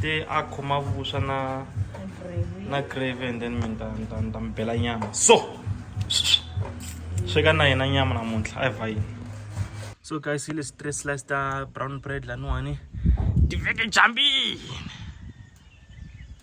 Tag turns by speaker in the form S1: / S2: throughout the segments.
S1: te a khoma vuswa na na grave and then mina ni ta mi bela nyama so sweka na yena nyama namuntlha a hi va yini so guys hi lesi three slice ta brown bread laniwani ti veke jambini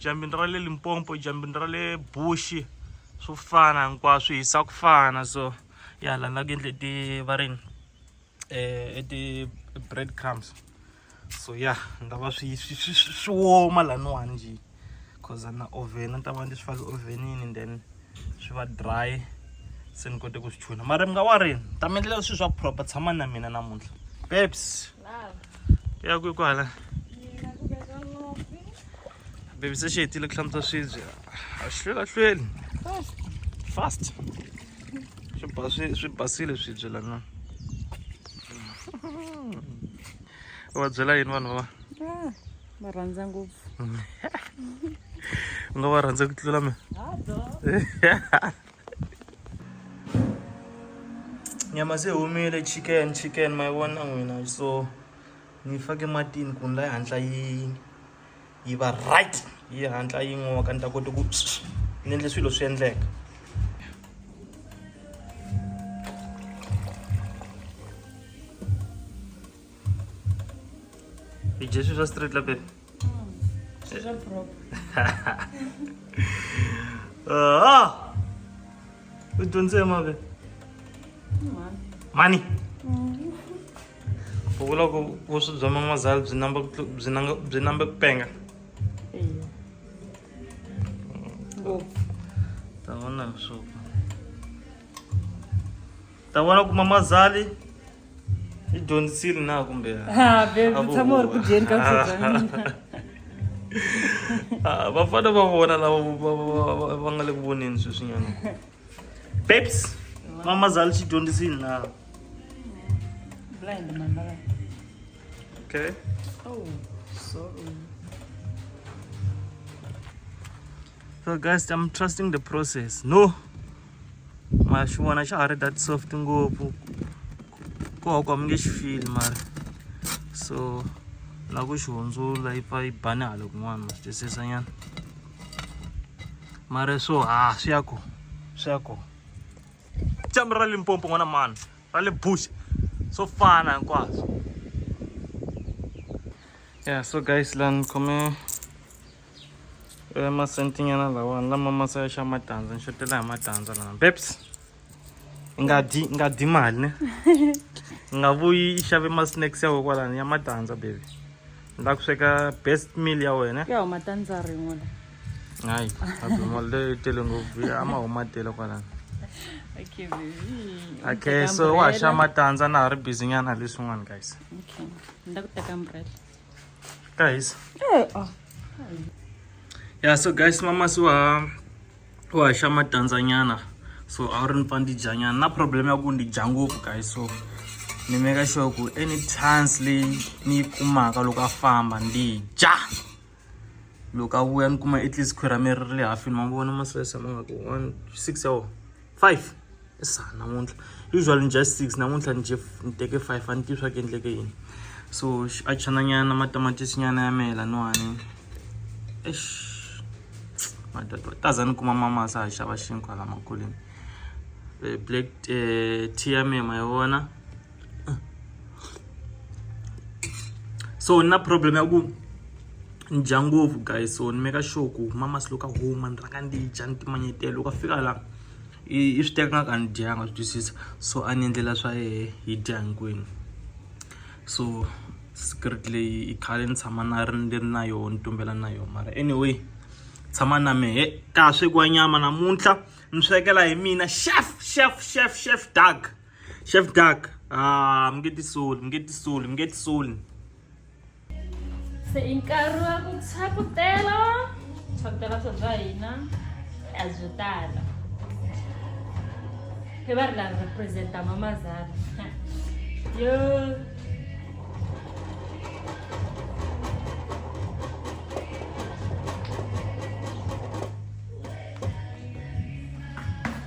S1: jambini ra le limpompo jambini ra le bushi swo fana hinkwaswo hisa ku fana so ya lana ku endle ti va rini eh, e ti-bread crumbs so ya nga va swi swi woma laniwani njhe cause na oven ni ta va ndzi swi fake ovenini and then swi va dry se ni kote ku swi chuna mara mi nga wa rini ta mi endlela swilo swa proper tshama na mina namuntlha babes ya ku kwala babes se xi hetile ku hlamutsa swibye a swi hlwelahlweli fast swi ba swi swi basile swi byela na va byela yini vanhu va ah, va
S2: rhandza ngopfu
S1: u nga va rhandza ku tlula mina nyama se humile chicken chicken ma yi vona n'wina so ni fake matini ku ni la yi hatla yi yi va right yi hatla yi n'oka ni ta kota ku ni endle swilo swi endleka i dye swi swa street la baby
S2: Ah!
S1: U dyondze mave? Mani.
S2: Mani.
S1: u vula ku vuswi bya man'wazala byi namba byi nanga byi nambe ku penga
S2: ngopfu ta
S1: vona msuku ta vona ku mamazali yi dyondzisile na kumbe ha bebyi tshama
S2: u ri ku dyeni
S1: ka vuswi bya mina Ah, vafana va vona lava va- va- va- va nga le ku voneni sweswinyana Babes, mama zali she don't see now. Blind mama. Okay. Oh, sorry. So guys, I'm trusting the process. No. Mashuwana xa ha ri that soft ngopfu. Ku ha ku a mi nge xi feel mara. So na ku xi hundzula yi pfa yi bane hala kun'wana ma swi twisisa nyana. mara so ha swi ya ko swi ya ko dyambu ra limpompo n'wana mani ra le bush swo fana hinkwaswo ya so guys la ni khome eh, masentinyana lawani lama masa ya xa matandza ni xotela hi matandza lama beps nga dyi nga dyi mali ne nga vuyi i xave ma-snacks ya we kwalani ya matandza baby ni la ku sweka best meal ya wena ya huma
S2: tandza
S1: rin'we la hayi abimol leyi tele ngopfu ya ma huma tele kwalani okay
S2: baby okay so wa
S1: xa matandza na ha ri busy nyana leswin'wana guys okay ni la
S2: ku teka umbrella guys
S1: eh,
S2: oh.
S1: yeah so guys mama so uh, wa haxa matandzanyana so a wu ri ni pfa ndzi dyanyana na problem ya ku ndzi dya ngopfu guys so ni meka sure ku any chance leyi ni yi kumaka loko a famba ndzi dya loko a vuya ni kuma at least khwira mi ri ri le hafini ma vona masese ma nga ku one six ya wona five i sa namuntlha usually ni dya six namuntlha ni dye ni teke five a ni tivi swa ku endleke yini so a chananyana matamatisi nyana ya mehe laniwani ex madadwa taza ni kuma mamasa ha xava xinkwa la makuleni eh, black eh, tea ya mehe ma yi vona so ni na problem ya ku ni dya ngopfu guys so ni meka sure ku mamasi loko a huma ni rhanga ndi dya ni timanyetela loko a fika laha i swi teka nga ka ni dyanga swi twisisa so a ni endlela swa yehe yi dya hinkwenu so secret leyi i khale ni tshama na ri ni ri na yoho ni tumbela na yoho mara anyway tshama na mehe ka ha swekiwa nyama namuntlha ni swekela hi mina chef chef chef chef dark Chef Duck, ah, mi nge tisoli, mi nge tisoli, mi nge tisoli.
S2: Se i nkarhi
S1: wa ku
S2: tshakutela, tshakutela swa bya hina a byi tala. Hi va ri la representa mama Zara. Yo.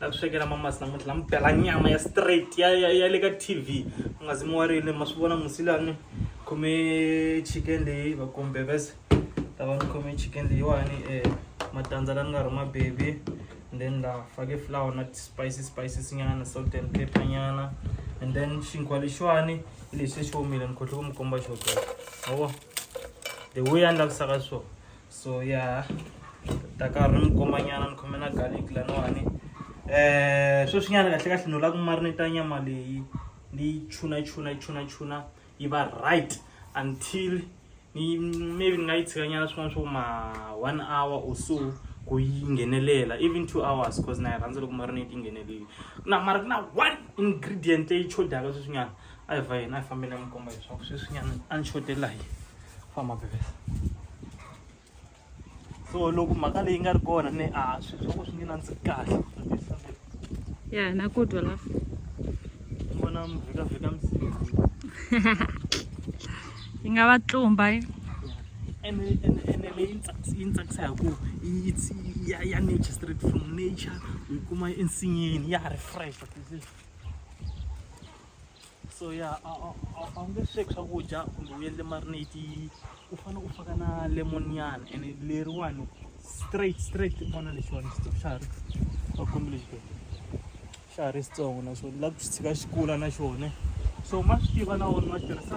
S1: ta ku swekela mamasi namuntlha la mi bela nyama ya straight ya ya ya le ka tv mi nga zi mi warile ma swi vona musi lani khome chicken leyi va kumbe vese ta va ni khome chicken leyiwani um matandza la ni nga rhuma baby and then la fake flower na ti-spices spices nyana salt and pepper nyana and then xinkwa lexiwani hi lexi xi omile ni khohlwe ku mi komba xo ma vo the way ya ni lavisaka swona so ya ta karhi ni komanyana ni khome na garlic laniwani um sweswinyana kahle kahle ni la ku marineta nyama leyi ni yi chuna chuna chuna chuna yi va right until ni maybe ni nga yi tshikanyana swin'wana swa ku ma one hour or so ku yi nghenelela even two hours cause na yi rhandza loko marinate yi ngheneleli na mara ku na one ingredient leyi chodaka sweswinyana a hi va yena a hi fambela n'wi komba leswaku sweswinyana a ni xotela hi famba bebesa so loko mhaka leyi nga ri kona ni a swi swa ku swi nge nandziki kahle
S2: ya na ku twa la
S1: vona mvhikavhika msizi
S2: yi nga va tlumba yi
S1: ene ene ene leyi yi tsakisa hi ku ya ya nature straight from nature yi kuma ensinyeni ya ha ri fresh so ya a a- a- a wu nge sweki swakudya kumbe u endle marinate u fanele u faka na lemon nyana and leriwani straight straight vona lexiwani xitsongo xa ha ri va kombi lexi ke xa ha ri xitsongo na xona la ku xi tshika xi kula na xona so ma swi tiva na wona ma tirhisa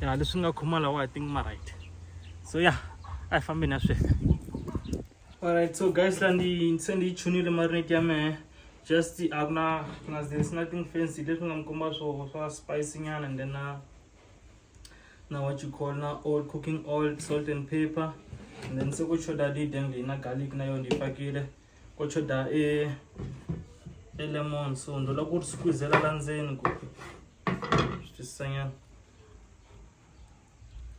S1: ya leswi nga khoma lawa i think ma right so ya a hi fambeni ya sweka alright so guys la ndi se ndi yi chunile marinate ya mehe just a ku na ku na there's nothing fancy leswi nga mi komba swo swa spicy nyana and then na na what you call na oil cooking oil salt and pepper and then se ku choda lead and leyi na garlic na yona yi pakile ku choda e e lemon so ndo la ku ri squeezela la ndzeni ku Just saying.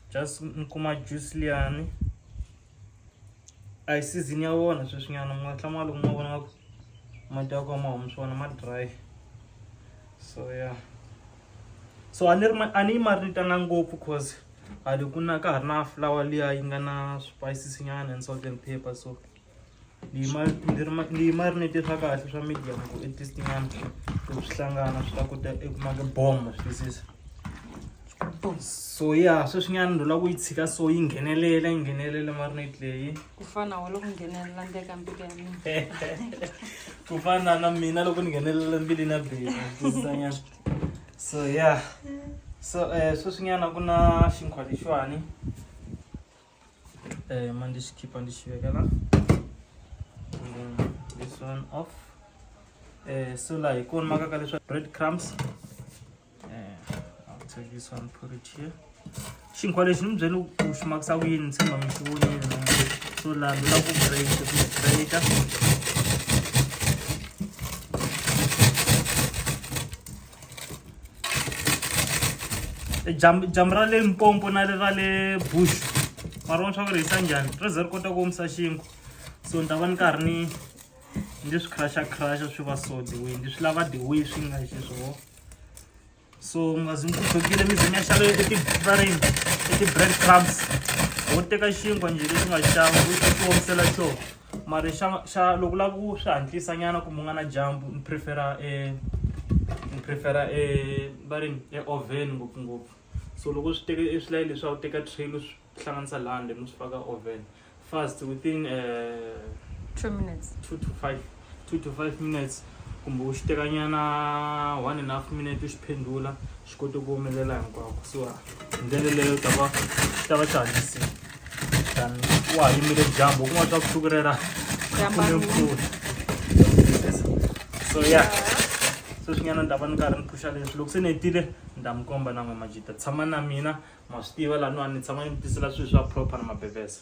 S1: Just nkuma juice liyani. A hi season ya wona sweswinyana mi nga tlama loko ma vona ku mati ya kona ma humi swona ma dry. So yeah. So a ni ri a ni yi marinitana ngopfu cause hale ku na ka ha ri na flower liya yi nga na swipayisisi nyana and salt and pepper so. Ndzi yi mari ndzi ri ndzi yi marinate swa kahle swa medium ku i taste nyana loko swi hlangana swi ta kota eku maka bomb swi twisisa so ya sweswinyana ndzi lava ku yi tshika so yi nghenelela yi nghenelela marinate leyi ku fana wa loko
S2: nghenelela ndzi ka mbilu ya mina ku
S1: fana na mina loko ni nghenelela mbili na bela twisisanyana so ya so um sweswinyana ku na xinkwa lexiwani um, and just keep on the shoe again and then this one off uh, so like one makakalisha bread crumbs uh, i'll take this one put it here xinkwa lexi ni byeni u xi makisa ku yini tshemba mi xi vonile so laha ndzi la ku break breaka dyambu dyambu ra le mpompo na le ra le bush mara vona swa ku ri hisa njhani ri ze ri kota ku omisa xinkwa so ni ta va ni karhi ni ndzi swi crusha crusha swi va so the way ndzi swi lava the way swi nga xiswoho so ngazi ni kudzokile mi ze mi ya xava etibarini eti-bread crumbs wo teka xinkwa njhe lexi nga xava u ti omisela xona mara xa xa loko lava ku swi hatlisa nyana kumbe u nga na dyambu ni prefera e ni prefera e va ri e oven ngopfungopfu so loko swi teke e swilayi leswi a wu teka tray lu swi hlanganisa lani le mi swi faka oven fast within um two
S2: minutes two
S1: to five two to five minutes kumbe u xi tekanyana one and half minute u xi phendula swi koti ku humelela hinkwako so hi ndlela leyo ta va ta va xihanyisile than wa ha yimile dyambu kuma swa vusiku rera khume mpfula so ya sweswinyana ni ta va ni karhi ni phusha leswi loko se ni hetile ni ta mi komba na n'we majita tshama na mina ma swi tiva laha niwani ni tshama ni mi tisela swilo swa proper na mabevesa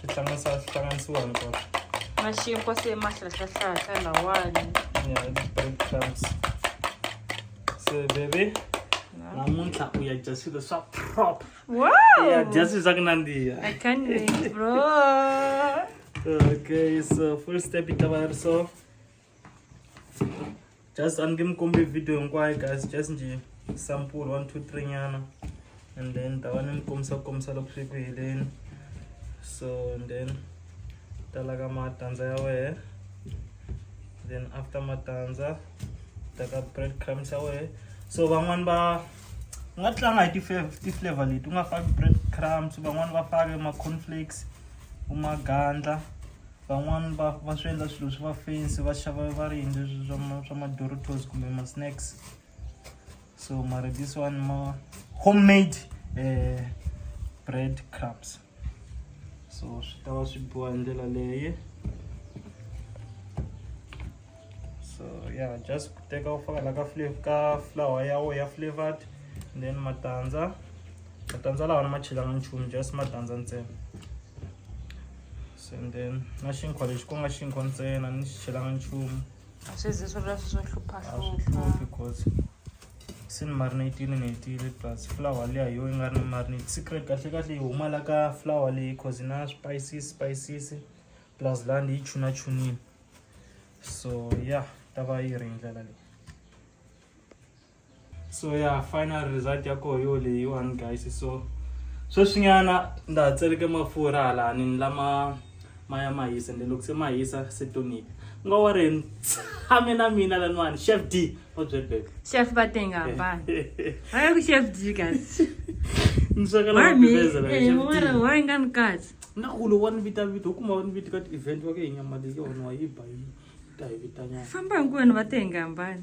S1: swi hlanganisa swi hlanganisiwa hinkwaswo maxinkwa
S2: se mahlahlahlahla lawani ya bread
S1: crumbs se bebe namuntlha u ya dya swilo swa proper u ya
S2: dya swilo swa
S1: ku nandziha I can't wait,
S2: bro. okay
S1: so first step yi ta va yi ri so just a ni nge mi kombi video hinkwayo guys just njhe sample one two three nyana and then ta va ni mi kombisa ku kombisa loko swi ku heleni so and then ta laka matandza ya wehe then after matandza ta ka bread crumbs ya wehe so van'wani va u nga tlanga hi ti-flavor leti u nga faki bread crumbs van'wani va fake ma-conflakes u magandla van'wani va va swi endla swilo swi va fancy va xava va ri yini leswi swa ma swa ma-doritos kumbe ma-snacks so mara this one ma homemade um bread crumbs so swi ta va swi biwa hi ndlela leye so ya just ku teka u faka la ka flav ka flower ya wo ya flavored and then matandza matandza lawa ni ma chelanga nchumu just matandza ntsena se and then na xinkwa lexi ku nga xinkwa ntsena ni xi chelanga nchumu a swi zi swi ri
S2: leswi swo a swi hluphahlupha hluphi
S1: cause se ni marinatini ni hetile plus flower liya hi yo yi nga ri ni marinate secret kahle kahle yi huma la ka flower leyi cause yi na spices spices plus laha ni yi chuna chunile so ya ta va yi ri hi ndlela leyi so ya final result ya koho yo leyiwani guys so sweswinyana ndza ha tseleke mafurha halani ni lama ma ya ma hisa ende loko se ma hisa se tonipi u nga wa ri tshame na mina laniwani chef d wa byebek chef va te nga
S2: hambana aya ku chef d kasi ni sweka
S1: loko ndibezela hi chef d eh, wa nga ni kasi
S2: na ku lo wa ni vita
S1: vita u kuma wa ni vita ka ti-event wa ke hi nyama leyi yona wa yi ba yi ta hi vitanyana famba hinkwenu va te
S2: nga hambana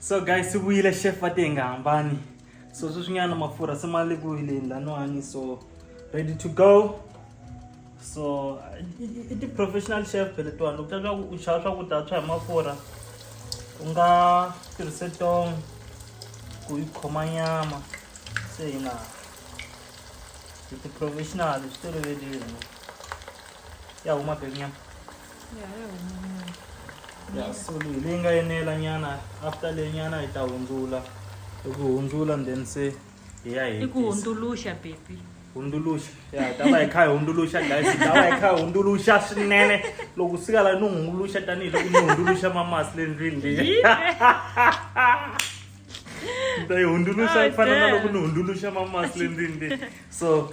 S1: so guys swi vuyile chef va te hi nga hambani so sweswinyana mafurha se ma le ku yileni laniwani so ready to go so i ti-professional chef letiwani loko ta u xava swakudya swa hi mafurha u nga tirhise tong ku yi khoma nyama se hina hi ti-professional swi tolovelini ya huma beku nyama ya so leyi leyi nga enela nyana after leyi nyana hi ta hundzula i ku hundzula then se hi ya i ku hundzuluxa
S2: baby hundzuluxa
S1: ya hi ta va hi kha hi hundzuluxa guys hi ta va hi kha hi hundzuluxa swinene loko sika la ni hundzuluxa tanihiloko ni hundzuluxa mamasi le ndlwini leyi ni ta yi hundzuluxa ku fana na loko ni hundzuluxa mamasi le ndlwini leyi so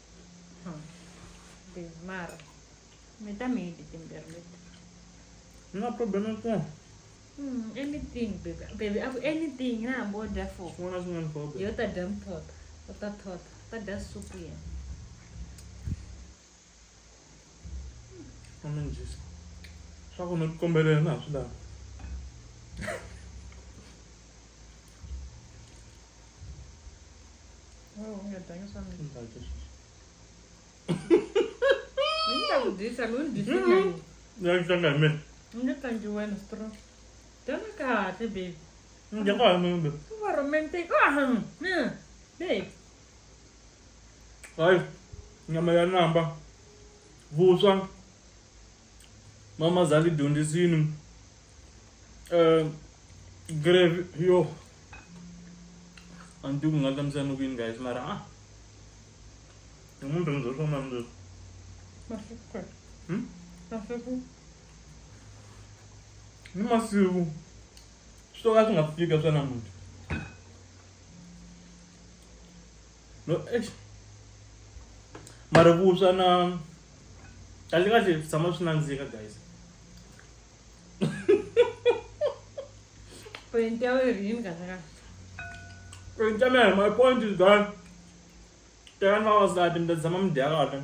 S2: mara mi ta mi yidi timbirhi leti
S1: ni nga problem ya kona hmm,
S2: anything baby baby aku anything na hambi wo dya fo swin'wana na swin'wana problem yo
S1: ta dya muthotho
S2: u ta thotha u ta dya supu yena
S1: amanjisa swa ku no tikombelela na ha swi lava
S2: nyama ya namba
S1: vuswa mama zali dyondzisini um eh, grave yo a ni tivi ku nga hlamusela ni ku yini guys mara a ah. ni munhu rhandza swo mani leswi hmm? ni masiku swi to ka swi nga fika swa namuntlha no eish mara vuswa na kahle kahle swi tshama swi nandzika guys point ya wena yi yini kahle kahle point ya mina my point is that tekani vavasati mi ta tshama mi dya kahle